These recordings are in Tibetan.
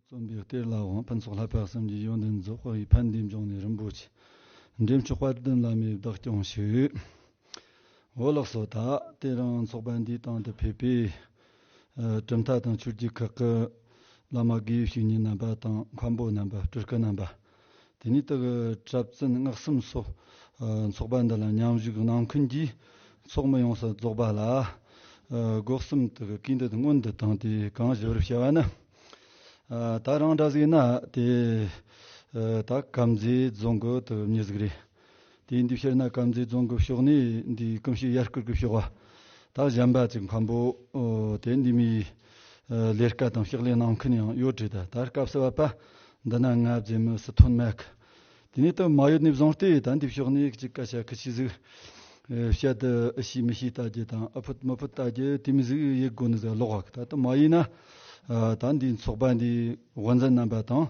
རྩོམ་པའི་གཏེར་ལ་དབང་ཕུན་ཚོགས་ལྷ་དཔལ་གསུམ་གྱི་ཡོན་ཏན་རྫོགས་པ་ཡི་ཕན་བདེའི་འབྱུང་གནས་རིན་པོ་ཆེ་འདྲེན་མཆོག་དཔལ་ལྡན་བླ་མའི་བདག་སྐྱོང་ཞུས། འོ་ལགས་སོ་ད་ལྟའི་རང་ཚོགས་པ་འདིའི་སྟེང་དུ་ཕེབས་པའི་གྲུབ་མཐའ་དང་ཆོས་རྒྱུད་ཁག་གི་བླ་མ་དགེ་བཤེས་གཉེན་རྣམ་པ་དང་མཁན་པོ་རྣམ་པ་སྤྲུལ་སྐུ་རྣམ་པ། དེ་ནས་དག་གྲབས་བཙུན་སྔགས་གསུམ་སོགས་ཚོགས་པ་འདི་ལ་མཉམ་བཞུགས་གནང་མཁན་གྱི་ཚོགས་མི་ཡོངས་སུ་རྫོགས་པ་ལ་སྒོ་གསུམ་དུ་བཀའི་འདུད་སྔོན་དུ་བཏང་སྟེ་གང་བཞེད་པར་བྱ་བ་ནི། ད་རང་འདྲ་ཟིག་ན་དེ་ད་གབ་མཛེས་རྫོང་གི་དུ་མཉེས་ཟིག་རེད། དེའི་འདུས་ཤར་ན་དཀར་མཛེས་རྫོང་གི་ཕྱོགས་ནས་འདི་ཀུན་གཞི་ཡར་སྐུར་གྱི་ཕྱོགས་བ་དག་གཞན་པ་ཅིག་འཕམ་པོ་དེ་འདི་མི་ལས་སྐལ་དང་ཕྱག་ལས་གནང་མཁན་ཡང་ཡོད་དྲིས་ད་ལྟར་སྐབས་སུ་བབ་པ་འདི་ན་ང་བཙས་མི་སྲིད་དོན་མེད། དེ་ནས་དུ་མ་ཡོད་ནས་བཟུང་སྟེ་ད་འདི་ཕྱོགས་ནས་ཅིག་ཀ་ཤ་ཁུ་ཤི་གཟིགས། བཤད་དུ་ཤེས་མི་ཤེས་ལྟ་རྒྱུ་དང་ཨུ་ཕུད་མུ་ཕུད་ལྟ་རྒྱུ་དེ་མི་གཟིགས་ཡིག་སྒོ་ནས་ཟ་ལོག་བ་ད་དུ་མ་ཡིན་ན་ད་འདི་ཚོགས་པ་འདིའི་དབུ་འཛིན་རྣམ་པ་དང་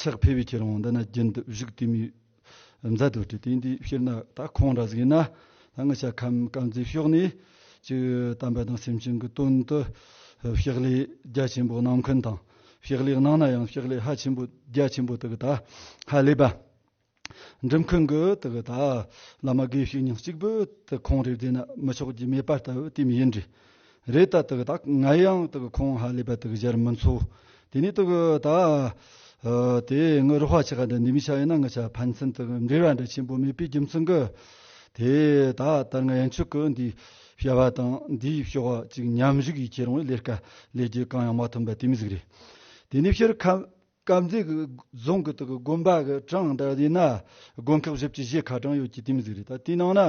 ཆགས་འཕེལ་བའི་ཁྱེད་རང་འདི་ན་རྒྱུན་དུ་བཞུགས་དུས་མི་མཛའ་དུ་སྤྲུལ་དེ་འདིའི་ཕྱིར་ན་ད་ཁོང་འདྲ་ཟིག་ཡིན་ན་སྔ་ཞབས་ཁམས་དཀར་མཛེས་ཕྱོགས་ནས་ཀྱི་དམ་པ་དང་སེམས་ཅན་གྱི་དོན་དུ་ཕྱག་ལས་རྒྱ་ཆེན་པོ་གནང་མཁན་དང་ཕྱག་ལས་གནང་ན་ཡང་ཕྱག་ལས་ཧ་ཆེན་པོ་རྒྱ་ཆེན་པོ་དག་ད་ཧ་ལས་པ། འགྲིམ་ཁུལ་འགུལ་དུ་བ་ལ་མ་དགོས་ཤིག་ཉིན་གཅིག་བོད་དུ་ཁོང་རེ་བསྡད་ན་མི་ཆོག་རྒྱུ་མེད་པ་ལྟ་བུ་དེ་མི་ཡིན་རེད་རེད་ད་དག་དག་ང་ཡང་དག་ཁོང་ཧ་ལས་པ་དག་གཞར་མི་འཚོ་དེ་ནས་དག་ད་དེ་ངུ་རུ་བྷ་ཆེ་ག་འདྲ་འདི་མི་ཆ་ཡིན་ན་ང་ཆ་ཕན་ཚུན་དག་འབྲེལ་བ་འདྲ་ཆེན་པོ་མེད་པའི་རྒྱུ་མཚན་གི་དེ་ད་དར་ང་ཡང་ཆོས་གོས་འདིའི་བྱ་བ་དང་འདིའི་བྱ་བ་གཅིག་མཉམ་གཞུག་གིས་ཁྱེད་རང་བའི་ལས་ཀ་ལས་རྒྱུ་གང་ཡང་མ་ཐོན་པ་དེ་མི་གཟིགས་རེད་དེ་ནས་ཕྱིར་ཁམས་དཀར་མཛེས་ཀྱི་རྫོང་གི་དགོན་པ་གྲངས་ལྟར་དབྱེ་ན་དགོན་ཁག་བཞི་བཅས་བཞི་ག་གྲངས་ཡོད་ཀྱི་དེ་མི་གཟིགས་རེད་ད་དེའི་ནང་ན་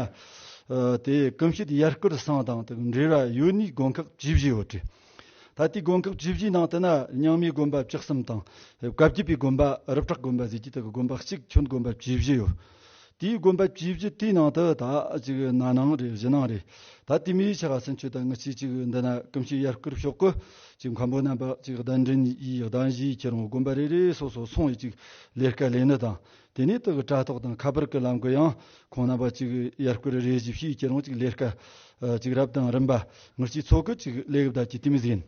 དེ་གོམ་གཤིས་དེ་ཡར་སྐུལ་སང་དང་དང་འབྲེལ་བ་ཡོད་ནུས་དགོན་ཁག་བཅུ་བཞི་ཡོད་རེད་ད་ལྟའི་དགོན་ཁག་བཅུ་བཞིའི་ནང་དུ་ན་ཉང་མའི་དགོན་པ་བཅུ་གསུམ་དང་བཀའ་བརྒྱུད་པའི་དགོན་པ་རབ་གྲགས་དགོན་པ་བཞི་བཅས་དགོན་པ་གཅིག་ཁྱོན་དགོན་པ་བཅུ་བཞི་ཡོད། དེའི་དགོན་པ་བཅུ་བཞི་དེའི་ནང་དུ་ད་ཅིག་ན་ནང་རེད་བཞི་ནང་རེད་ད་དེ་མིའི་ཆ་ག་ཟིན་ཆོད་ད་ངི་ཆི་ཅིག་འདི་ན་ཀུན་གཞི་ཡར་བསྐུར་ཤོག་གོ་ཅིག་མཁན་པོ་རྣམ་པ་ཅིག་གདན་འདྲེན་ཡིས་གདན་བཞིའི་ཁྱེད་རང་དགོན་པ་རེ་རེ་སོ་སོར་སོང་ཡིས་ཅིག་ལས་དཀའ་ལས་ནི་དང་དེ་ནས་དག་དྲ་ཐོག་དང་ཁ་པར་གི་ལམ་གི་ཡང་ཁོང་རྣམ་པ་ཅིག་ཡར་བསྐུར་རེ་བཞི་བཞིའི་ཁྱེད་རང་ཅིག་ལས་དཀའ་ཅིག་རབ་དང་རིམ་པ་ངི་ཆིའི་ཚོགས་གི་ཅིག་ལས་གདའ་ཅིག་དེ་མི་ཟིན་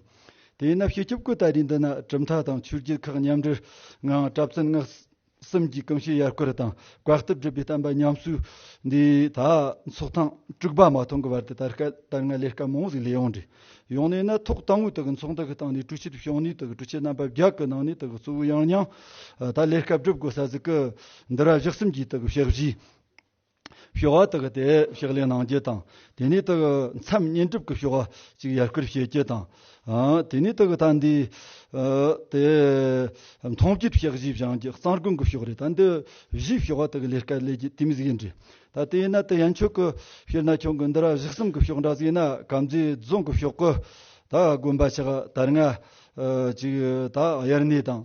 དེ་ན་བཤད་སྐྱོབ་གི་ད་རེས་འདི་ན་གྲུབ་མཐའ་དང་ཆོས་རྒྱུད་ཁག་མཉམ་འབྲེལ་ངང་གྲབས་ཙུན་སྔགས་གསུམ་གྱི་གང་ཞིག་ཡར་སྐོར་དང་བཀའ་སྟབས་བསྒྲུབ་པའི་བསྟན་པ་ཉམས་གསོའི་འདི་ད་ཚོགས་ཐེངས་དྲུག་པ་མ་ཐོན་གྱི་བར་དུ་དར་སྔ་ལས་ཀ་མང་ཟིག་ལས་ཡོང་འདྲི་ཡོང་ནས་ན་ཐོག་ཏང་ཨུའི་དག་གི་ཚོགས་འདུ་ཞིག་བཏང་ནས་གྲོས་ཆོད་བྱུང་ནས་དག་གི་གྲོས་ཆོད་རྣམ་པ་བརྒྱ་ཀྱི་ནང་ནས་དག་གི་གཙོ་བོའི་ཡང་སྙིང་ད་ལས་ཀ་བསྒྲུབ་དགོས་ས་ཟིག་གི་འདི་ར་བཞག་གསུམ་གྱིས་དག་གི་བཤགས་བཞིའི། བྱ་བ་དག་དེ་ཕྱག་ལེན་གནང་རྒྱུ་དང་དེ་ནས་དག་མཚམས་བསྙེན་སྒྲུབ་ཀྱི་བྱ་བ་གཅིག་ཡར་སྐུལ་བྱེད་རྒྱུ་དང། དེ་ནས་དག་ད་འདི་དེ་མཐོང་བརྒྱུད་གཤེགས་བཞི་བྱང་རྒྱུད་གཙང་དགོན་གྱི་ཕྱོགས་རེད་ད་འདི་བཞིའི་བྱ་བ་དག་ལས་དཀའ་ལས་རྒྱུད་དེ་མི་གཟིགས་འདྲི་ད་དེ་ཡིན་ན་དེ་ཡན་ཆོད་གི་ཕྱིར་ན་ཁྱོད་དགོན་འདི་ར་བཞི་གསུམ་གྱི་ཕྱོགས་འདྲ་ཟིག་ན་གབ་མཛེས་རྫོང་གི་ཕྱོགས་གི་ད་དགོན་པ་ཆགས་དར་ང་གཅིག་ད་དབྱར་གནས་དང་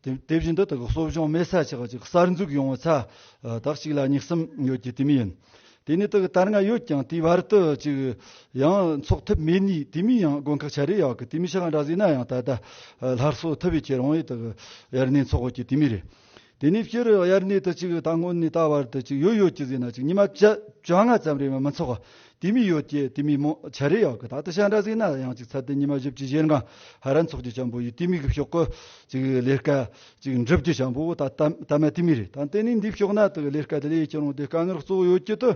དེ་བཞིན་དུ་དག་གསོ་སྦྱོང་མེད་ས་ཆགས་ཅིག་གསར་འཛུགས་ཡོང་བའི་ཚ་དག་ཅིག་ལ་སྙིགས་གསུམ་ཡོད་ཀྱི་དུས་མིན་ཡིན། དེ་ནི་དག་དར་ང་ཡོད་ཀྱང་དེའི་བར་དུ་ཅིག་ཡང་འཚོགས་ཐུབ་མེད་ནུས་དུས་མིན་ཡང་དགོན་ཁག་ཆ་རེ་ཡག་གི་དུས་མི་ཤ་འདྲ་བཟོས་ན་ཡང་ད་ལྟ་སླར་གསོ་ཐུབ་བའི་ཁྱེད་རང་ཡིས་དག་དབྱར་གནས་འཚོགས་ཡོད་ཀྱི་དུས་མིན་རེད། དེ་ནས་ཕྱིར་དབྱར་གནས་དུ་ཅིག་ད་སྔོན་ནས་ད་བར་དུ་ཅིག་ཡོད་ཡོད་ཀྱི་ཟེར་ན་ཅིག་ཉི་མ་བཅོ་ལྔ་ཙམ་རེ་མི་འཚོགས་དེ་མི་ཡོད་ཀྱི་དེ་མི་མོ་བྱ་རེ་ཡག་གི་ད་ལྟ་ཤ་འདྲ་ཟིག་ན་ཡང་ཅིག་ཚར་དེ་ཉི་མ་བཞི་བཅུ་བཞེར་འགངས་ཧ་རན་ཚོགས་ཀྱི་བྱམས་པོ་ཡི་དེ་མི་གི་ཕྱོགས་ཀི་ཅིག་ལས་སྐལ་ཅིག་འགྲུབ་ཀྱི་བྱམས་པོ་ད་ལྟ་ད་མ་དེ་མི་རེད་ད་ལྟེ་ནས་འདི་ཕྱོགས་ན་དག་ལས་སྐལ་དེ་ལས་ཡི་ཅི་རུང་དེ་དཀའ་ངལ་གཙོ་བོ་ཡོད་ཀྱི་དུ་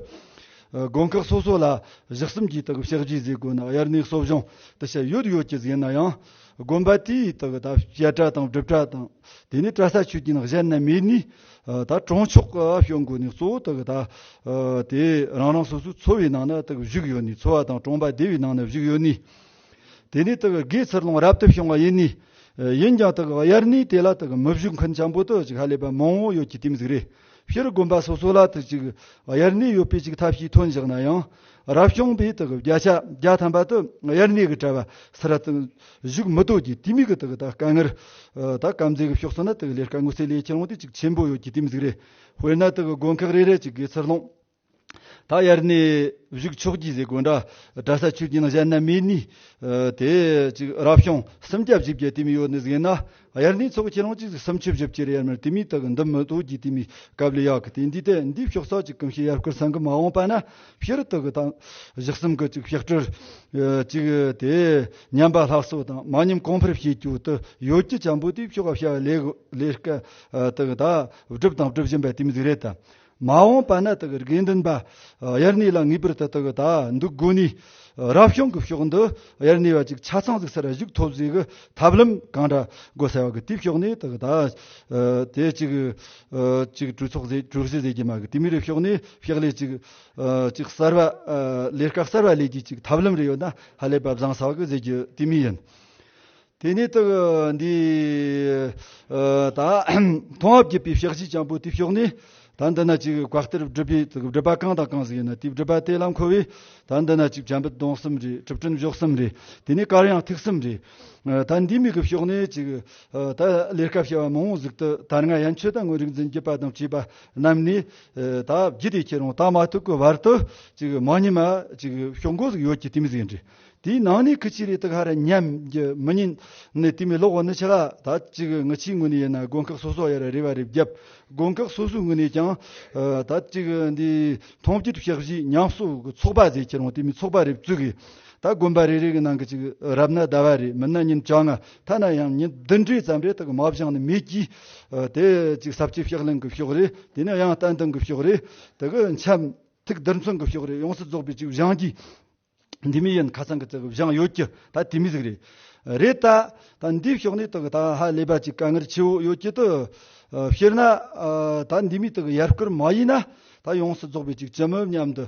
དགོན་ཁག་སོ་སོ་ལ་བཞག་གསུམ་གྱིས་དག་བཤགས་རྒྱུའི་ཟས་གོས་ན་དབྱར་གནས་གསོ་སྦྱོང་དུ་བྱ་ཡུལ་ཡོད་ཀྱི་ཟིན་ན་ཡང་དགོན་པ་དེའི་དག་ད་བཤད་གྲྭ་དང་སྒྲུབ་གྲྭ་དང་དེ་ནས་བཀྲ་ས་ཆོས་ཀྱི་ནགས་ཞལ་ན་མེད་ནས། ད་གྲོང་ཆོག་གི་གཞུང་དགོས་ནས་གཙོ་བོ་དག་ད་དེ་རང་རང་སོ་སོའི་འཚོ་བའི་ནང་ན་དག་བཞུགས་ཡོད་ནས་འཚོ་བ་དང་གྲོང་པ་སྡེ་བའི་ནང་ན་བཞུགས་ཡོད་ནས། དེ་ནས་དག་སྒོས་ཚུར་ལོངས་རབ་ཏུ་བྱུང་བ་ཡིན་ནས། ཡིན་ཀྱང་དག་དབྱར་གནས་དེ་ལ་དག་མི་བཞུགས་མཁན་ཆེན་པོ་དག་ཅིག་ཧ་ལས་པ་མང་བོ་ཡོད་ཀྱི་དེ་མི་ཟིག་རེ། ཕྱིར་དགོན་པ་སོ་སོ་ལ་དག་ཅིག་དབྱར་གནས་ཡོད་པའི་ཅིག་ཐབས་ཤེས་ཐོན་བཞག་ན་ཡང། རབ་བྱུང་པའི་དག་གི་བརྒྱ་ཆ་བརྒྱ་ཐམ་པ་དུ་དབྱར་གནས་ཀྱི་བྲལ་བ་སེ་ར་དང་བཞུགས་མི་ལྟོས་ཀྱི་དུས་མིག་གི་དག་དཀའ་ངལ་དག་དཀའ་མཛེས་ཀྱི་ཕྱོགས་སུ་ན་དག་ལས་དཀའ་ངོ་སེ་ལས་ཁྱེད་རང་དུས་གཅིག་ཆེན་པོ་ཡོད་ཀྱི་དུས་མིག་རེ་དཔེར་ན་དག་དགོན་ཁག་རེ་རེ་གཅིག་གི་ཚུར་ལོངས་དག་དབྱར་གནས་བཞུགས་ཆོག་གྱི་ཟས་གོས་འདྲ་འདྲ་ས་ཆུ་རྒྱུན་གཞན་ན་མེད་ནུས་དེ་གཅིག་རབ་བྱུང་སུམ་བརྒྱ་བཞི་བརྒྱ་དུས་མིག་ཡོད་ནི་གཟིགས་ན་དབྱར་གནས་ཚོགས་ཁྱེད་རང་གཅིག་གཟིགས་སམ་ཆུ་བཞི་བཅས་རེ་ཡར་མར་དེ་མི་དག་འདི་མི་དོ་གྱིས་དེ་མི་གབ་ལེ་ཡག་གི་དེ་འདི་དེ་འདི་ཕྱོགས་ས་ཅིག་གམ་ཤི་ཡར་སྐོར་ས་འགུལ་མ་འོངས་པ་ན་ཕྱི་རུ་དག་གི་དང་བཞག་གསུམ་གི་ཅིག་ཕྱག་དྲིལ་ཅིག་དེ་ཉམས་པ་ལྷག་སོ་དང་མ་ཉམས་གོང་འཕེར་བྱེད་རྒྱུ་དུ་ཡོད་ཀྱི་བྱམས་པོ་དེའི་ཕྱོགས་བྱ་བ་ལས་ལས་ཀ་དག་གདབ་སྒྲུབ་དང་སྒྲུབ་བཞིན་པ་དེ་མི་གཟིགས་རེད་དམ། མ་འོངས་པ་ན་དགེ་རྒན་འདོན་པ་དབྱར་གནས་ལ་ངེས་པར་དུ་དགོས་ད་འདུག་དགོས་ནས་རབ་བྱུང་གི་ཕྱོགས་འདི་དབྱར་གནས་བ་ཅིག་ཆ་ཚང་ཟིག་སར་བཞུགས་ཐོབ་ཟིག་གི་ཐབས་ལམ་གང་འདྲ་དགོས་ཟེར་བ་གི་དེའི་ཕྱོགས་ནས་དགོས་ད། དེ་ཅིག་ཅིག་གྲོས་ཚོགས་ཟེར་གྲོས་གཞི་ཟེར་གྱི་མ་གི་དེ་མི་རེ་ཕྱོགས་ནས་ཕྱག་ལས་ཅིག་ཅིག་གསར་བ་ལས་ཀ་གསར་བ་ལས་རྒྱུ་ཅིག་ཐབས་ལམ་རེ་ཡོད་ན་ཧ་ལས་པ་བཟང་ཟེར་བ་གི་ཟེར་རྒྱུ་དེ་མི་ཡིན། དེ་ནས་དག་འདི་དག། མཐོང་བ་བརྒྱད་པའི་བཤགས་བྱའི་སྤྱང་པོ་དེའི་ཕྱོགས་ནས། ད་འདི་ན་ཅིག་བཀའ་གཏེར་སྒྲུབ་པའི་སྒྲུབ་པ་གང་དང་གང་ཟིག་ཡིན་ན་དེའི་སྒྲུབ་པ་དེ་ལ་མཁོ་བས། ད་འདི་ན་ཅིག་བྱམས་པ་སྡོང་གསུམ་རེ་གྲུབ་དྲུང་གཞོག་གསུམ་རེ། དེ་ནས་དཀར་ཡང་ཐིག་གསུམ་རེ། ད་འདིའི་མིག་གི་ཕྱོགས་ནས་ཅིག། ད་ལས་སྐབས་བྱ་བ་མང་བོ་གཟིགས་དུ་དར་ང་ཡན་ཆོད་དང་དངོས་རིག་འཛིན་བགྱིད་པ་དང་བཅས་པ་རྣམས་ནི། ད་བགྱིད་དེ་ཁྱེད་རང་ད་མ་ཐུག་གི་བར་དུ་ཅིག་མ་ཉི་མ་ཅིག་ཕྱོགས་མགོ་ཟིག་ཡོད་ཀྱི་ཏིམ་ཟིག་འདྲི། དེའི་ནང་ནས་ཁི་ཆི་རེ་དག་ཧ་ར་ཉམས་ཀྱི་མི་ཉིན་ནས་དུས་མེ་ལོག་བ་ནི་ཆི་ལ་ད་ཅི་གི་ངི་ཆིའི་ངོས་ནས་ཡིན་ན་དགོན་ཁག་སོ་སོ་ཡ་ར་རེ་བ་རེ་བརྒྱབ་དགོན་ཁག་སོ་སོའི་ངོས་ནས་ཀྱང་ད་ཅི་གི་འདི་ཐོངས་སྐྱིད་ཕྱག་བཞི་ཉམས་གསོ་གི་ཚོགས་པ་ཟེར་ཁྱེད་རང་དེ་མི་ཚོགས་པ་རེ་བཙུག་གི་ད་དགོན་པ་རེ་རེ་གི་ནང་གི་ཅི་གི་རབ་ན་ཟླ་བ་རེ་མིན་ན་ཉིན་བྱ་ལྔ་ཐ་ན་ཡང་ཉིན་བདུན་རེ་ཙམ་རེ་དག་གི་མ་བཞག་ནི་མེད་ཀྱི་དེ་ཅི་ཟབ་ཆོས་ཕྱག་ལེན་གི་ཕྱོགས་རེ་དེ་ནས་ཡང་བསྟན་དང་གི་ཕྱོགས་རེ་དག་གི་འཆམ་ཐིག་བསྡུར་མཚོན་གི་ཕྱོགས་རེ་ཡོངས་སུ་རྫོགས་པའི་ཅིག་བཞང་གིས། འདི་མི་ཡིན་ཁ་སང་གི་བཙལ་བའི་བཞེངས་ཡོད་ཀྱི་ད་དེ་མི་ཟིག་རེད། རེད་ད། ད་འདིའི་ཕྱོགས་ནས་དག་ད་ཧ་ལས་པ་ཅིག་དཀའ་ངལ་ཆེ་བོ་ཡོད་ཀྱི་ཏུ། དཔྱིར་ན། ད་འདི་མི་དག་ཡར་སྐུར་མ་ཡིན་ན། ད་ཡོངས་སུ་རྫོགས་པའི་ཅིག་ཅི་མོད་སྙམ་དུ།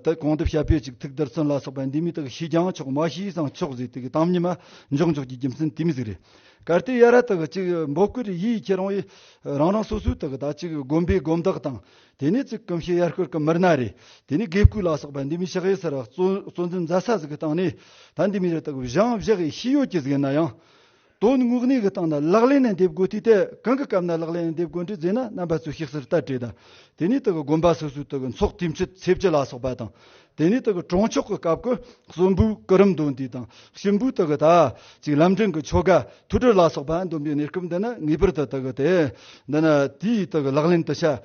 དེ་གང་ཐུབ་བྱ་དཔེ་ཅིག་ཐུགས་དར་ཚོན་ལ་སོགས་པའི་འདི་མི་དག་ཤི་ཀྱང་ཆོག་མ་ཤི་སང་ཆོག་ཟེར་དུས་ཀྱི་གཏམ་ཉི་མ་འཇོག་འཇོག་གྱི་རྒྱུ་མཚན་དེ་མི་ཟིག་རེད། གལ་ཏེ་ཡར་ར་དག་ཅིག་འབོ་སྐུར་ཡིད་ཁྱེད་རང་ཡིན། རང་རང་སོ་སོའི་དག་ད་ཅིག་བསྒོམ་པའི་སྒོམ་དག་དང། དེ་ནས་ཙི་ཀུམ་ཤི་ཡར་སྐོར་གྱི་མི་སྣ་རེ་དེ་ནས་དགེ་བསྐོས་ལ་སོགས་པ་འདི་མི་ཤག་ཡེ་སར་གཙོ་འཛིན་རྫ་ས་ཟིག་གི་སྟེང་ནས་ད་འདི་མི་རེ་དག་བཞེངས་བཞག་གི་ཤི་ཡོད་ཀྱི་ཟིག་ཡིན་ན་ཡང། དོན་དངོས་གནས་ཀྱི་སྟེང་ན་ལག་ལེན་ནས་འདེབས་དགོས་དུས་དེ་གང་གི་སྐབས་ན་ལག་ལེན་ནས་འདེབས་དགོས་འདྲི་རྫས་ན་རྣམ་པ་ཚོས་ཤིག་སར་བལྟ་དྲི་དང་དེ་ནས་དག་དགོན་པ་སོ་སོའི་དག་འཚོགས་དུས་མཆོད་འཚེབ་བྱེད་ལ་སོགས་པ་དང་དེ་ནས་དག་གྲོང་ཆོག་གི་སྐབས་ཀྱི་གསོན་པོའི་སྐུ་རིམ་འདོན་དུས་དང་གཤིན་པོའི་དག་དག་ཅིག་ལམ་འབྲིང་གི་ཆོ་ག་ཐུགས་གྲོལ་ལ་སོགས་པ་འདོན་པའི་གནས་སྐབས་འདི་ནི་ངེས་པར་དུ་དག་སྟེ། འདི་ནི་དེའི་དག་ལག་ལེན་དུ་བྱ།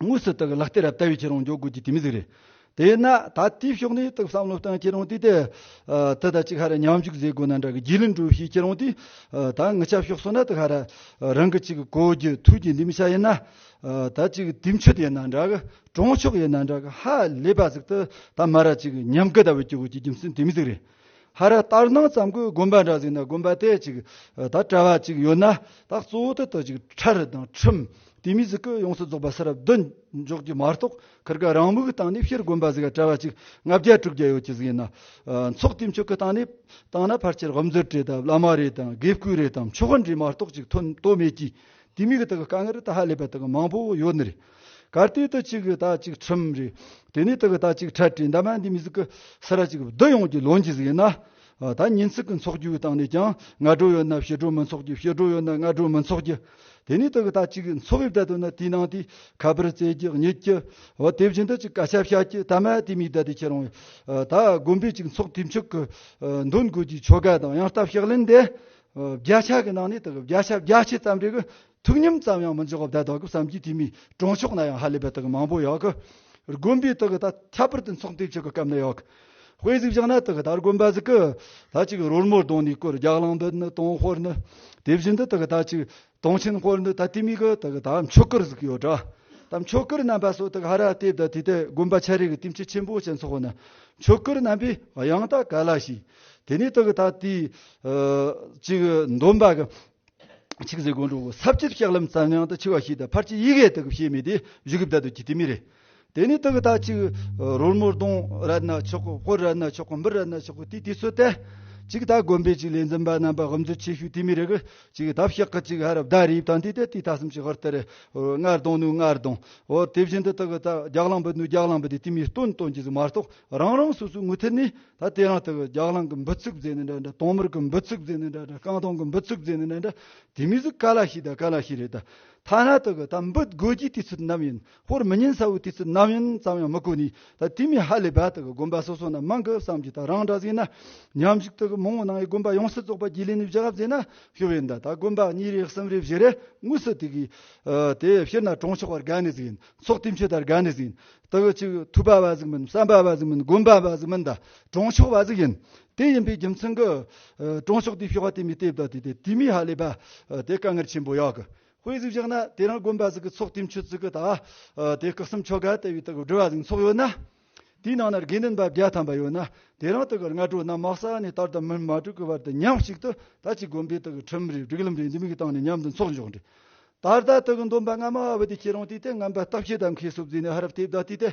དངོས་སུ་དག་ལག་སྟེ་རབ་ལྟ་བའི་ཁྱེད་རང་འཇོག་དགོས་ཀྱི་དུས་མི་གཟིགས་རེ། དེས་ན་ད་ལྟའི་ཕྱོགས་ནས་དག་བསམ་བློ་བཏང་ཁྱེད་རང་དེ་ལྟའི་དུས་ད་ཅིག་ཧ་ར་ཉམས་ཞུགས་མཛད་དགོས་ན་འདྲ་གི་རྒྱུས་ལས་འགྲོ་ཤེས་ཁྱེད་རང་དེ་ད་ངུ་ཆ་ཞོག་སོང་ན་དག་ཧ་ར་རང་གི་ཅིག་གོ་རྒྱུ་ཐུགས་ཀྱི་འདུན་མི་བྱ་ཡིན་ན་ད་ཅིག་དུས་མཆོད་ཡིན་ན་འདྲ་གི་གྲོང་ཆོག་ཡོད་ན་འདྲ་གི་ཧ་ལས་པ་ཟིག་ཏུ་ད་མ་ར་ཅིག་ཉམས་དགའ་ད་བུ་སྐྱུག་གི་རྒྱུ་མཚན་དེ་མི་ཟིག་རེད་ཧ་ར་ལྟར་སྣང་ཙམ་གི་དགོན་པ་འདྲ་ཟིག་ན་དགོན་པ་དེ་ཅིག་ད་བཀྲ་བ་ཅིག་ཡོད་ན་ད་གཙོ་བོ་དེ་དག་ཅིག་ཁྲ་རི་དང་ཁྲིམས་དེ་མི་ཟིག་གི་ཡོངས་སུ་རྫོགས་པ་ས་རབ་བདུན་འཇོག་རྒྱུ་མ་གཏོགས་ཁར་ག་རང་མིག་བཏང་ནས་ཕྱིར་དགོན་པ་ཟིག་བཀྲ་བ་ཅིག་ལྔ་བརྒྱ་དྲུག་བརྒྱ་ཡོད་ཅི་ཟིག་ཡིན་ན་ཚོགས་དེ་མཆོག་གི་སྟེང་ནས་བཏང་ན་ཕར་ཆེར་དབབ་འཛུལ་བྲེད་དང་བླ་མ་རེད་དམ་དགེ་བསྐོས་རེད་དམ་ཆོས་དཔོན་རེད་མ་གཏོགས་ཅིག་ཐོན་གཏོ་མེད་ཀྱི་དེ་མིག་དག་གི་དཀའ་ངལ་ད་ཧ་ལས་པ་དག་མང་པོ་ཡོད་ནི་རེད། གར་སྟེགས་དུ་གཅིག་གི་ད་གཅིག་ཁྲིམས་རེད། དེ་ནས་དག་གི་ད་གཅིག་ཁྲལ་བྲལ་འདབ་མ་འདི་མི་གཟུགས་ཀྱི་སེ་ར་གཅིག་བསྡུ་ཡོངས་ཀྱི་ལོ་འཇིག་ཟིག་ཡིན་ན། ད་ཉིན་ཚིག་གི་འཚོགས་རྒྱུའི་སྟེང་ནས་ཀྱང་སྔ་དྲོ་ཡོད་ན་ཕྱི་དྲོ་མི་འཚོགས་རྒྱུ་ཕྱི་དྲོ་ཡོད་ན་སྔ་དྲོ་མི་འཚོགས་རྒྱུ། དེ་ནས་དག་གི་ད་གཅིག་འཚོགས་དབྱིབས་བསྡད་དོན་ན་དེའི་ནང་དུ་ཁ་པར་བཙལ་རྒྱུ་རྙེད་རྒྱུ། འོ་དེ་བཞིན་དུ་ཅིག་བཀའ་ཁྱབ་བྱ་རྒྱུ་ད་མ་དེ་མི་བསྡད་དུ་ཁྱེད་རང་བས་ད་དགོན་པའི་ཅིག་འཚོགས་དུས་མཆོག་གི་འདོན་དགོས་རྒྱུའི་ཆོ་ག་དང་ཡང་སྟབས་ཞག་ལེན་དེ། བརྒྱ་ཆ་གི་ནང་ནས་དག་གི་བརྒྱ་ཆ་བརྒྱ་ཆའི་རྩམ་རིག་གི་ཐུགས་སྙོམས་ཙམ་ཡང་མི་འཇོག་གོ་བརྡ་དག་གི་བསམ་གྱིས་དུས་མི་གྲོངས་ཕྱོགས་ན་ཡང་ཧ་ལས་པའི་དག་མང་པོ་ཡོད་གི། དགོན་པའི་དག་ད་ཁྱད་པར་དུ་འཚོགས་འདེབས་བྱེད་གི་སྐབས་ནི་ཡོད་གི། དཔེ་གཟིགས་བཞག་ན་དག་ད་དགོན་པ་ཟིག་གི་ད་ཅིག་རོལ་མོ་གདོང་ནས་སྐོར་རྒྱག་ལང་འདི་ནི་དོང་ཧོར་ནི། དེ་བཞིན་དུ་དག་ད་ཅིག་དོང་ཆེན་ཧོར་ནི་ད་དེ་མིན་གི་དག་ད་མཆོད་གར་ཟིག་ཡོད་གྲ། ད་མཆོད་གར་རྣམ་པ་སོགས་དག་ཧ་ར་ལྟེབ་ད་དེ་ད་དགོན་པ་ཆ་རེ་གི་ལྟེམ་ཆེ་ཆེན་པོ་ཞིག་འཚོགས་ན་མཆོད་གར་རྣམ་པས་ཡང་དག་ག་ལ་ཞིག། དེ་ནས་དག་ད་དེ་ཅིག་འདོན་པ་གི་ཆིག་ཟེར་དགོན་གྲོང་གསར་སྤྱིར་ལྕགས་ལམ་རྩ་ཉང་དུ་ཆེ་བ་ཞིག་དང་ཕར་ཆེར་ཡི་གེ་དག་གི་ཕྱེད་མི་དེ་བཞུགས་སྒར་བདག་ཏུ་གྱི་དེ་མི་རེད། དེ་ནི་དག་དག་ཅིག་རོལ་མོ་གདོང་ར་ན་ཆོག་གོ་དཔོན་ར་ན་ཆོག་གོ་འབུར་ར་ན་ཆོག་གོ་དེ་དེ་ཚོ་སྟེ། ཅིག་དག་དགོན་པའི་ཅིག་ལས་འཛིན་པ་རྣམ་པ་ཧམ་འཛུལ་ཆེ་ཤོས་དེ་མི་རེད་གི། ཅིག་དག་ཕྱག་གི་ཅིག་ཧ་ར་བདའ་རིབ་དང་དེ་དེ་དེ་ད་སུམ་ཅིག་ཧོར་དེར་སྔར་དང་ནུ་སྔར་དང་ཧོར་དེ་བཞིན་དུ་དག་དག་རྒྱག་ལངས་པ་ནུ་རྒྱག་ལངས་པ་དེ་དེ་མི་སྟོན་སྟོན་གྱི་ཟིག་མ་གཏོགས་རང་རང་སོ་སོའི་ངུ་ཐལ་ནི། ད་དེ་རང་སྟེ་རྒྱག་ལང་གི་འབུ་ཚུགས་རྫས་ནི་འདྲ་འདྲ་དོང་མིར་གི་འབུ་ཚུགས་རྫས་ནི་འདྲ་འདྲ་རྐང་དོང་གི་འབུ་ཚུགས་རྫས་ནི་འདྲ་འདྲ་དེ་མིན་སུ་ག་ལ་ཤེས་ད་ག་ལ་ཤེས་རེད་ད་ཐ་ན་ད་གི་ད་འབུ་དགོས་ཀྱི་དུས་ཚོད་ནམ་ཡིན་ཧོར་མི་ཉིན་ས་བོའི་དུས་ཚོད་ནམ་ཡིན་ཙམ་ཡང་མི་གོ་ནི་ད་དེ་མིན་ཧ་ལས་པ་ད་གི་དགོན་པ་སོ་སོ་ན་མང་གི་བསམ་གྱི་ད་རང་འདྲ་ཟིན་ན་ཉམས་ཞིག་ད་གི་མོང་བོ་ནང་ཡི་དགོན་པ་ཡོངས་སུ་རྫོགས་པ་རྒྱུས་ལེན་ནི་བཞི་ག་བཟས་ན་ཤི་བས་འདའ་ད་དགོན་པ་གཉིས་རེ་གསུམ་རེ་བཞི་རེ་དངོས་སུ་དེ་གི་དེ་ཕྱིར་ན་གྲོང་ཆོག་བར་དགའ་ནི་ཟིན་ཚོགས་དེ་མཆོད་དར་དགའ་ནི་ཟིན་ལྟོ་བའི་ཆུ་ཐུབ་པ་བ་ཟིག་མིན་བསམ་པ་བ་ཟིག་མིན་སྒོམ་པ་བ་ཟིག་མིན་དང་གྲོང་ཤོག་བ་ཟིག་ཡིན། དེ་ཡིན་པའི་རྒྱུ་མཚན་གྱིས། གྲོང་ཤོག་དེའི་ཤོག་བ་དེ་མི་ལྟེབ་དང་དེ་དེ་དེ་མི་ཧ་ལས་པ། དེ་དཀའ་ངལ་ཆེན་པོ་ཡག་གི་དཔེ་ཟིག་བཞག་ན་དེ་རང་སྒོམ་པ་ཟིག་གི་ཚོགས་དེའི་མཆོད་ཚུལ་གྱི་དང་དེ་བཀག་གསུམ་ཆོ་ག་ལྟ་བུའི་དག་སྒྲུབ་བ་ཟིག་ཚོགས་ཡོད་ན། དེའི་ནང་ན་དགེ་འདུན་པ་བརྒྱ་ཐམ་པ་ཡོད་ན་དེ་རང་དག་གི་སྔ་དྲོ་ནམ་དམག་ས་ནས་བསྟར་དང་མི་མ་དྲུག་གི་བར་དུ་མཉམ་གཅིག་ཏུ་ད་ཅིག་སྒོམ་པའི་དག་གི་ཁྲིམས་རེ་སྒྲིག་ལམ་རེ་འདི་མིག་བཏང་ནས་མཉམ་དུ་འཚོགས་འཇོག་འདྲི་ད་ལྟ་དག་གི་འདོན་པ་སྔ་མ་ཨ་བ་དི་ཁྱེད་རང་དུས་དེ་རྔམ་པ་བརྟག་བྱེད་དམ་ཁའི་སྲོག་རྫས་ནི་ཧ་རབ་ཐེབས་དག་དུས་དེ་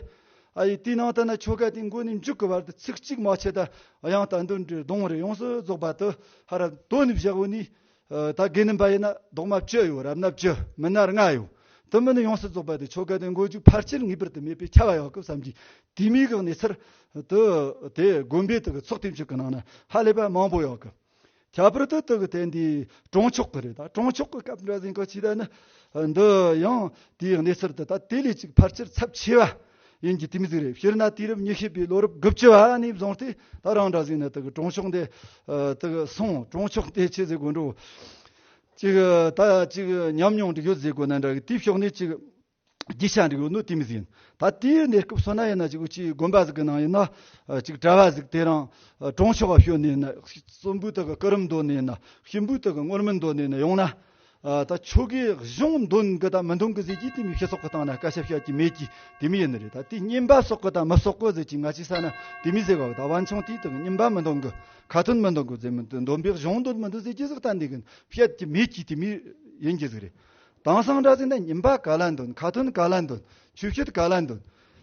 ཨ་ཡི་དུས་ནང་དུ་ནི་ཆོ་ག་དེའི་མགོ་ནས་མཇུག་གི་བར་དུ་ཚིག་གཅིག་མ་ཆད་དུ་ཡང་དག་འདོན་འགྲོའི་གདོང་རེ་ཡོངས་སུ་རྫོགས་པ་དུ་ཧ་རབ་དོ་ནི་བཞག་བོ་ནི། ད་གི་ནི་འབའ་ཡི་ན་ལྡོག་མ་བཅུ་ཡོད་རབ་ན་བཅུ་མི་ནར་ལྔ་ཡོད་དུ་མི་ནི་ཡོངས་སུ་རྫོགས་པ་དུ་ཆོ་ག་དེའི་མགོ་མཇུག་ཕར་ཆེར་ངེས་པར་དུ་མེད་པའི་ཁྱབ་བ་ཡང་སྐབས་སམ་གྱི་དུས་མིག་གི་ནས་ཚུར་དུ་དེ་དགོན་པའི་དུ་གི་ཚོགས་ཐེབས་ཅིག་གི་ནང་ན་ཧ་ལས་པ་མང་པོ་ཡང་སྐབས། ཁྱད་པར་དུ་དུ་གི་དེ་འདི་གྲོང་ཆོག་གི་རེད་ད་གྲོང་ཆོག་གི་སྐབས་འདྲ་ཟིན་གོ་ཕྱིས་ད་ནི་འདི་ཡང་དེའི་གནས་ཚུལ་དུ་ད་དེ་ལས་ཅིག་ཕར་ཆེར་ཚབས་ཆེ་བ་ཡིན་གྱི་དེ་མི་ཟིག་རེད་ཕྱིར་ན་དུས་རབས་ཉི་ཤུ་པའི་ལོ་རབས་དགུ་བཅུ་བ་ནས་བཟུང་སྟེ་ད་རང་འདྲ་ཟིག་ནི་དུ་གི་གྲོང་ཆོག་འདི་དུ་གི་སོང་གྲོང་ཆོག་འདི་ཆེ་ཟེར་དགོས་འགྲོ་ཅིག་ད་ཅིག་ཉམས་མྱོང་འདི་ཡོད་ཟེར་དགོས་ན་འདྲ་གི་དེའི་ཕྱོགས་ནས་ཅིག་རྒྱུ་ཆ་འགྲིག་ཡོད་ནོ་དེ་མི་ཟིན་ད་དེའི་གནས་སྐབས་སོ་ན་ཡིན་ན་ཅིག་བུ་ཁྱིའི་དགོན་པ་ཟིག་གི་ནང་ཡིན་ན་ཅིག་གྲྭ་བ་ཟིག་དེ་རང་གྲོང་ཆོག་པ་ཞོན་ནས་ཡིན་ན་གསུམ་པོའི་དག་གི་སྐུ་རིམ་འདོན་ནས་ཡིན་ན་གཤིན་པོའི་དག་གི་སྔོན་རྨི་འདོན་ནས་ཡིན་ན་ཡོང་ན་ད་ཆོས་གོས་གཞུང་འདོན་གི་དང་མི་འདོན་གི་ཟེར་གྱི་དེ་མི་ཤེས་སོག་གི་སྟངས་ན་བཀའ་ཞབས་བཤད་ཀྱི་མེད་ཀྱི་དེ་མི་ཡིན་ནི་རེད་ད་དེ་རྙིང་པ་སོག་གི་དང་མི་སོག་གི་ཟེར་གྱི་ང་ཅིག་ས་ན་དེ་མི་ཟེར་བ་ད་བ་འཆང་དེའི་དག་གི་རྙིང་པ་མི་འདོན་གི་ཁ་ཏོན་མི་འདོན་གི་ཟེར་མི་འདོན་པའི་གཞུང་འདོན་མི་འདོན་ཟེར་གྱི་ཟིག་ད་འདི་གི་བཤད་ཀྱི་མེད་ཀྱི་དེ་མི་ཡིན་གྱི་ཟིག་རེད་དེང་སང་འདྲ་ཚིག་འདི་ཉིན་པ་ག་ལ་འདོན་ཁ་ཐུན་ག་ལ་འདོན་ཆུ་ཤུད་ག་ལ་འདོན།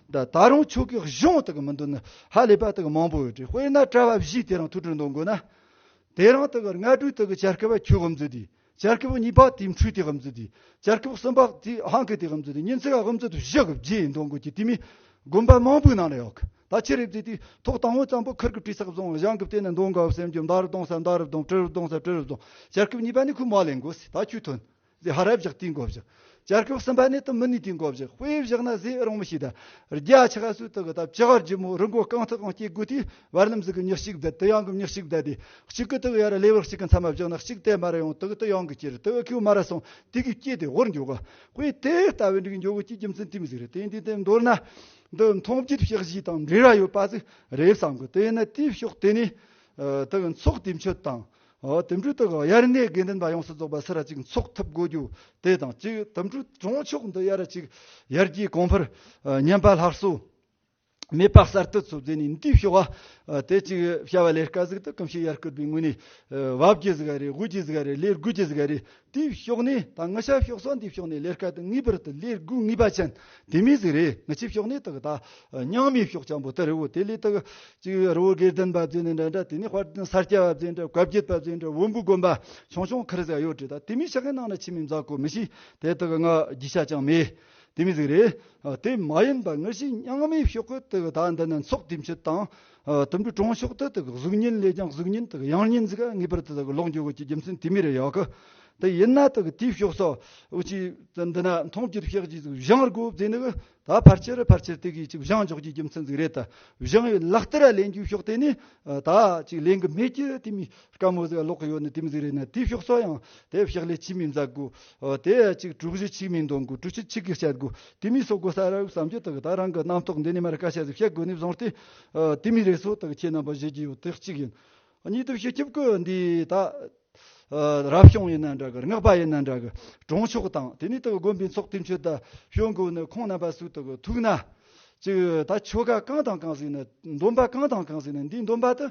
ད་རུང་ཆུ་གི་གཞུང་དག་མི་འདོན་ན་ཧ་ལས་པ་དག་མང་པོ་ཡོད་དེ་དཔེར་ན་བཀྲ་བ་བཞི་དེ་རང་ཐུགས་དྲུག་འདོན་དགོས་ན། དེ་རང་དག་ལྔ་དྲུག་དག་བྱ་རྐུ་བ་ཁྱུ་དབུ་མཛོད་དེ་བྱ་རྐུ་བ་གཉིས་པ་དེ་འཕྲུལ་དེ་དབུ་མཛོད་དེ་བྱ་རྐུ་བ་གསུམ་པ་དེ་ཧང་ཀི་དེ་དབུ་མཛོད་དེ་ཉིན་ཚིག་དབུ་མཛོད་དུ་བཞི་གི་བརྒྱད་ཡིན་འདོན་དགོས་ཀྱི་དེ་མིན་དགོན་པ་མང་པོའི་ནང་ན་ཡོད་ད་ཕྱི་རེ་བརྩིས་ཏེ་ཐོག་དང་བོ་ཙམ་པོ་ཁུར་གི་བྲིས་སག་བཟང་བཞེངས་གི་བལྟས་ན་འདོན་དགའ་བ་སེམས་ཀྱི་མདའ་རུ་གཏོང་ས་མདའ་རུ་གཏོང་བྲི་རུ་གཏོང་ས་བྲི་རུ་གཏོང་བྱ་རྐུ་བ་གཉིས་པ་ནི་ཁུ་མ་ལེན་དགོས་ཟེར་ད་ཁྱུ་ཐུན། ཟས་ཧ་ར་བཞག་དུས་མགོ་བཞག། ཅར་ཁོག་སུམ་པ་ནས་དུ་མི་ནུས་དུས་མགོ་བཞག་དཔེ་བཞག་ན་ཟས་རང་མི་ཤེས་ད། རྒྱ་ཆེ་ཁ་སུ་དུ་གི་ད་ཅི་ཧར་རྒྱུ་མོ་རི་མགོ་རྐང་ཐུག་གང་སྐྱེ་དགོས་དུས་བར་རྣམ་གཟུགས་གི་མྱུག་གཅིག་བསྡད་དུ་གཡང་གི་མྱུག་གཅིག་བསྡད་དེ་གཅིག་གི་དུག་ཡར་ལེ་བར་གཅིག་གི་མཚམས་མ་བཞག་ན་གཅིག་དེ་མར་ཡང་དུག་དུ་གཡང་གི་སྐྱེ་རུ་དུག་ཁོའི་མར་སོང་དུས་གིས་སྐྱེས་དེ་ཧོར་མགྱོགས། དཔེ་དེ་ལྟ་བུའི་འབྲུག་མགྱོགས་ཀྱི་རྒྱུ་མཚན་དུས་མི་གཟིགས་རེད་དེ་འདི་དེ་མདོར་ན། འདི་མཐོང་བརྒྱུད་བཤགས་བཞི་དང་འབྲེལ་བ་ཡོད་པ་ཟིག་རེད་བསམ་གི་དེ་ནི་དུས་ཕྱོགས་དེ་ནས་དུག་མཚོགས་དུས་མཆོད་དང། དུད་འགྲོའི་སྟེང་དབྱར་གནས་དགེ་འདུན་པ་ཡོངས་སུ་རྫོགས་པ་སེ་ར་གཅིག་འཚོགས་ཐུབ་དགོས་རྒྱུ་དེ་དང་གཅིག་དུད་འགྲོའི་གྲོང་ཆོག་འདི་དབྱར་ར་གཅིག་ཡར་རྒྱས་གོང་འཕེལ་ཉམས་པ་ལྷག་བསུ་མེད་པར་གསར་གཏོད་ཚོད་འཛིན་ནས་འདུས་ཤོག་བ་དེ་གཅིག་བྱ་བ་ལས་དཀའ་གཟུགས་དུ་གང་ཤེས་ཡར་སྐུར་པའི་ངོས་ནས་བབ་ཀྱི་གཟུགས་རེ་དབུས་ཀྱི་གཟུགས་རེ་ལས་དགུས་ཀྱི་གཟུགས་རེ་དེའི་གཤོག་ནད་དང་ངུ་ཤ་གཤོག་སོགས་འདིའི་གཤོག་ནད་ལས་སྐལ་དུ་ངེས་པར་དུ་ལས་དགུ་ངེས་པ་ཅན་དེ་མིན་ཟིག་རེད་ངུ་ཆའི་གཤོག་ནད་དག་དང། རྙིང་མའི་གཤོག་ཆང་པོ་ཏི་རི་བོ་དེ་ལས་དག་ཅིག་རི་བོ་སྒེར་དོན་བབས་ཚུལ་ནི་འདྲ་འདྲ་དེ་ནས་དཔར་དོན་སར་སྐྱེ་བབས་ཚུལ་འདྲ་བཀའ་བརྒྱུད་བབས་ཚུལ་འདྲ་འོམ་བུ་དགོན་པ་ཆུང་ཆུང་ཁར་ཟེགས་གཡོག་བྲིས་དང་དེ་མིན་ཤ་ཁན་ནང་ན་ཕྱི་མིའི་མཛའ་བཀོད་མི་ཤེས་དེ་དག་ངག་བརྒྱུད་ཤ་ཅང་མེད་དེ་མིན་ཟིག་རེད། དེ་མ་ཡིན་པ་ངུ་ཤའི་རྙིང་མའི་གཤོག་བཀོད་དག་དང་འདི་ནི་ཚོགས་དུས་མཆོད་དང། དུམ་བུའི་གྲོང་ཤོག་དེ་དག་གཟུགས་བརྙན་ལས་ཀྱང་གཟུགས་བརྙན་དག་ཡང་བརྙན་གཟིགས་ངེས་པར་དེ་དག་ལོག་འགྱུ་དགོས་ཀྱི་རྒྱུ་མཚན་དེ་མི་རེད་ཡག་གི་དེ་ཡིན་ན་དག་དེའི་ཕྱོགས་སོ་ཅི་འདི་ན་མཐོང་གྱི་རིག་ཤག་ཅིག་བཞེངས་དགོས་དེ་ནི་གི་ད་ཕར་ཆེར་ཕར་ཆེར་དེ་གིས་ཅིག་བཞེངས་འཇོག་གྱི་རྒྱུ་མཚན་ཅིག་རེད་དེ་བཞེངས་ཡོད་ལག་བསྟར་ལེན་རྒྱུའི་ཕྱོགས་དེ་ནི་ད་ཅིག་ལེན་གི་མེད་ཀྱི་དེ་མི་དཀར་མོ་ཟེར་བ་ལོག་གི་ཡོད་ནི་དེ་མི་ཟིག་རེད་ནི་དེ་ཕྱོགས་སོགས་ཡང་དེ་ཕྱག་ལས་ཆིག་མིན་མཛད་དགོས་དེ་ཡ་གཅིག་དྲུག་བཞི་ཆིག་མིན་འདོན་དགོས་དྲུག་ཅུ་ཆིག་གིས་བཤད་དགོས་དེ་མིན་སོགས་དགོས་ས་ར་བའི་བསམ་སྤྱོད་དག་ད་རང་གི་རྣམ་རྟོག་འདི་ནས་མ་རེད་བཀའ་ཤག་གིས་བཤད་དགོས་ནི་བཟང་སྟེ། དེ་མིན་རེད་སོགས་དག་ཁྱེད་རྣམ་པ་བཞེད་ཀྱི་ཡོད་དེ་གཅིག་ཡིན། གཉིས་དུ་བཞི་སྐྱིབས་ཀྱི་འདི་ད་རབ་བྱུང་ཡིན་ན་འདྲ་གི་རྔགས་པ་ཡིན་ན་འདྲ་གི་གྲོང་ཆོག་དང་དེ་ནས་དག་དགོན་པའི་ཚོགས་དེ་མཆོད་ད་ཞོན་དགོས་ནི་ཁོང་རྣམ་པ་སུ་དག་ཐུག་ན་ཅིག་ད་ཆོ་ག་གང་དང་གང་ཟིག་ནི་འདོན་པ་གང་དང་གང་ཟིག་ནི་འདི་འདོན་པ་དུ་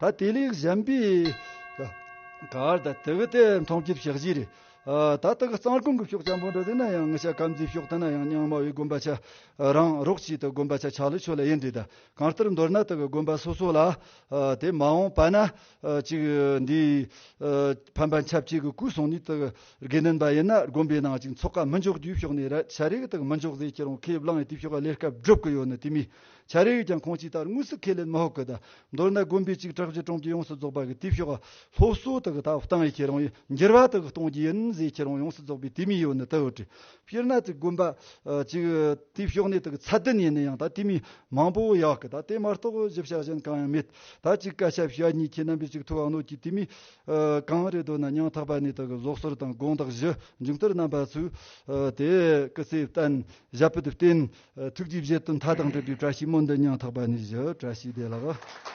ད་དེ་ལས་གཞན་པའི་གར་དང་དག་སྟེ་མཐོང་སྐྱེས་ཞག་བཞི་རེ། ད་དག་གཙང་ཀུན་གྱི་ཕྱོགས་ཆེན་པོ་འདི་དེ་ན་ཡང་ཤ་སྐམ་རྫིའི་ཕྱོགས་དེ་ན་ཡང་རྙིང་མ་བའི་དགོན་པ་ཆ་རང་རོགས་བྱས་ཏེ་དགོན་པ་ཆ་ཆག་ལས་ཆོས་ལ་ཡེ་འདྲེས་དང་གང་ལྟར་མདོར་ན་དག་དགོན་པ་སོ་སོ་ལ་དེ་མ་འོངས་པ་ན་ཅིག་འདིའི་ཕན་པ་འཆབ་བྱེད་ཀྱི་སྐུ་སོང་ནས་དག་དགེ་འདུན་པ་ཡིན་ན་དགོན་པའི་ནང་ཅིག་འཚོགས་ཀ་མི་འཇོག་རྒྱུའི་ཕྱོགས་ནས་ར་ཤ་རེ་གི་དག་མི་འཇོག་ཟེར་ཁྱེད་རང་ཁས་བླངས་ཡོད་དེའི་ཕྱོགས་ཀ་ལས་སྐབས་སྒྲུབ་ཀྱི་ཡོད་ནི་དེ་མིན་བྱ་རེ་ཡོད་ཀྱང་ཁོང་ཅིག་ལྟར་དངོས་སུ་ཁས་ལེན་མི་ཧོ་གི་ད། མདོར་ན་དགོན་པའི་ཅིག་གྲགས་ཀྱི་གྲོང་ཁྱེར་ཡོངས་སུ་རྫོགས་པ་གི་དུས་ཞོག་སློབ་གསོ་དག་ད་བཏང་ཡས་ཁྱེད་རང་ཡི་འགྱུར་བ་དག་གཏོང་རྒྱུ་ཡིན་ཟས་ཁྱེད་རང་ཡོངས་སུ་རྫོགས་པའི་དུས་མི་ཡོ་ནི་དུ་དྲི། སྤྱིར་ན་ཅིག་དགོན་པ་ཅིག་དུས་ཞོག་ནས་དག་ཚ་བདུན་ཡས་ནས་ཡང་ད་དུས་མི་མང་པོ་ཡག་གི་ད་དེ་མ་རྟོགས་བཞི་བྱ་གཞན་གང་ཡང་མེད་ད་ཅིག་སྐད་ཆ་བྱ་གཉིས་ཁྱེད་རྣམ་པའི་ཅིག་ཐུ་བ་ནོར་གྱི་དུས་མི་གང་རེ་འདོད་ན་ཉང་ཐག་པ་ནས་དག་བཟོ་གསོལ་དང་དགོངས་དག་བཞི་མཇུག་མཐར་རྣམ་པ་ཚུལ་དེ་སྐུ་ཚེ་བརྟན་བཞད་པོ་དུ་བརྟེན། ཐུགས་རྗེས་བཞེད་དུ་མཐའ་དང་བྲལ་བའི་བཀྲ་ཤིས་མོ་འདི་ཉང་ཐག་པ་ནས་བཞི་བཀྲ་ཤིས་བདེ་ལགས།